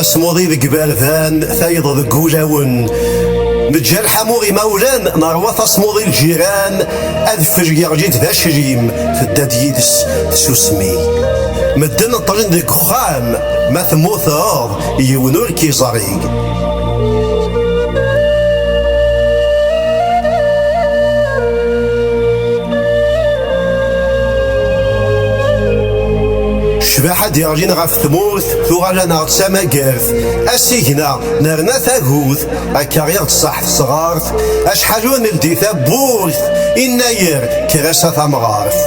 tasmuḍi deg iberdan tayeḍ deg ulawen neǧǧa lḥamu imawlan nerwa tasmuḍi lǧiran Adfel yeɣli-d d aclim, tedda-d yid-s tsusmi. Medden ṭṭlen deg uxxam, ma temmuteḍ, yiwen ur k-iẓri. Cbaḥa d-iɣlin ɣef tmurt, tuɣal-aneɣ d tamagart, asigna, nerna tagut. Akka i ɣ-d-tṣaḥ tesɣart, acḥal ur neldi tawwurt, innayer kras a tamɣart.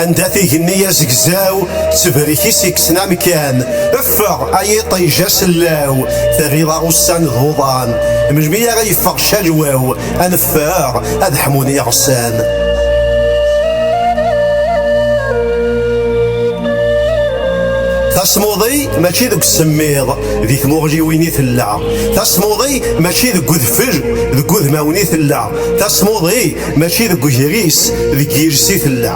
Anda tigenni azegzaw, ttebrik-is ikksen amkan, effeɣ ay iṭij asellaw, terriḍ-aɣ ussan d uḍan, melmi ara yeffeɣ calwaw, ad neffeɣ ad ḥmun iɣsan tasmuḍi mačči deg usemmiḍ di tmuɣliwin i tella tasmuḍi mačči deg udfel deg udmawen i tella tasmuḍi mačči deg ugris deg yiles i tella